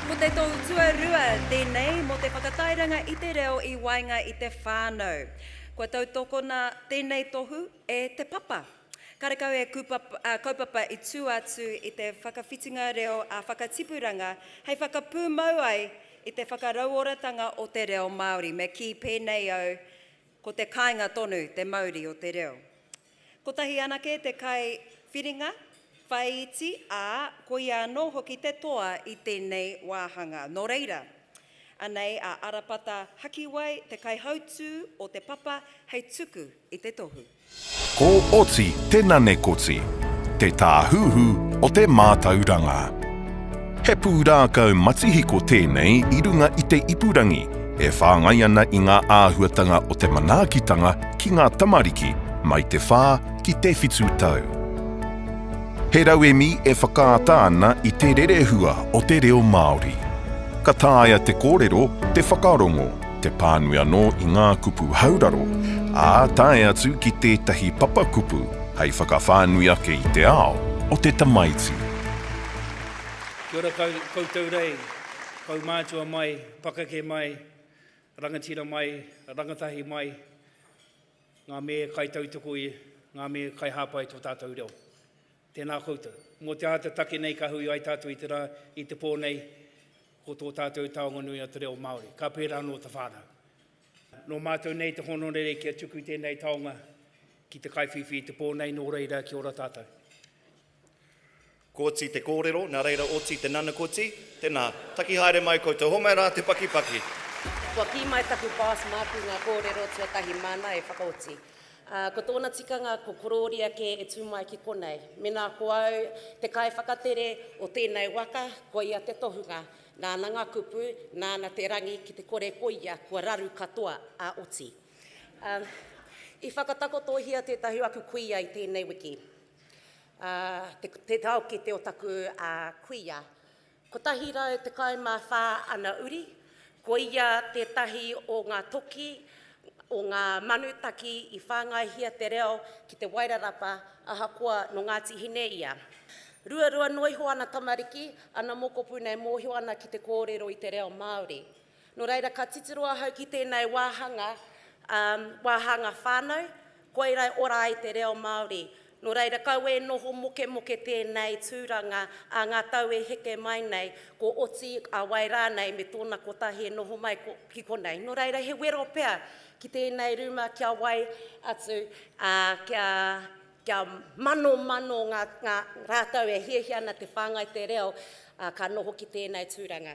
Ko te tou tuarua tēnei mō te whakatairanga i te reo i waenga i te whānau. Kua tautokona tēnei tohu e Te Papa. Karekau he kaupapa i tū atu i te whakawhitinga reo ā-whakatipuranga hei whakapūmau ai i te whakarauoratanga o te reo Māori. Me kī pēnei au, ko te kāinga tonu te mauri o te reo. Kotahi anake te kai whiringa, whāiti, ā, koia anō hoki te toa i tēnei wāhanga. Nō reira, anei a Arapata Hakiwai te kaihautū o te papa hei tuku i te tohu. Ko Oti te Nanekoti, te tāhuhu o te mātauranga. He pūrākau matihiko tēnei i runga i te ipurangi, e whāngai ana i ngā āhuatanga o te manaakitanga ki ngā tamariki mai te whā ki te whitu tau. He rauemi e whakaata ana i te rerehua o te reo Māori. Ka taea te kōrero, te whakarongo, te pānui anō i ngā kupu hauraro, ā, tae atu ki tētahi papakupu hei whakawhānui ake i te ao o te tamaiti. Kia ora kau, koutou rei, kaumātua mai, pakeke mai, rangatira mai, rangatahi mai, ngā mē kai tautoko i, ngā mē kai hāpai i tō tātou reo. Tēnā koutou. Mō te āta take nei ka hui ai tātou i te rā, i te pō nei, ko tō tātou taonga nui o te reo Māori. Ka pērā anō te whānau. Nō mātou nei te hōnore kia tuku tēnei taonga ki te kaiwhiwhi i te pō nei, nō reira kia ora tātou. Koti te kōrero, nā reira oti te nanakoti. Tēnā, taki haere mai koutou. Hōmai rā te pakipaki. Kua kī mai taku boss māku ngā kōrero tuatahi māna e whakaoti. Ā, ko tōna tikanga ko korōria kē e tū mai ki konei. Mēnā ko au te kaiwhakatere o tēnei waka, koia te tohunga. Nāna ngā kupu, nāna te rangi ki te kore koia kua raru katoa ā oti. Ā, i whakatakotohia tētahi aku kuia i tēnei wiki. Te taokete o taku kuia. 114 ana uri, ko ia tētahi o ngā toki o ngā manutaki i whāngaihia te reo ki Te Wairarapa ahakoa nō Ngāti Hine ia. Ruarua noa iho ana tamariki, ana mokopuna e mōhio ana ki te kōrero i te reo Māori. Nō reira, ka titiro ahau ki tēnei wāhanga, ā, wāhanga whānau, koira e ora ai te reo Māori. Nō reira, kau e noho mokemoke tēnei tūranga ā ngā tau e heke mai nei, ko Oti, a Wai rānei me tōna kotahi e noho mai ko, ki konei. Nō reira, he wero pea ki tēnei rūma kia wai atu, ā, kia, kia manomano ngā, ngā rātou e hiahia ana te whāngai te reo, ā, ka noho ki tēnei tūranga.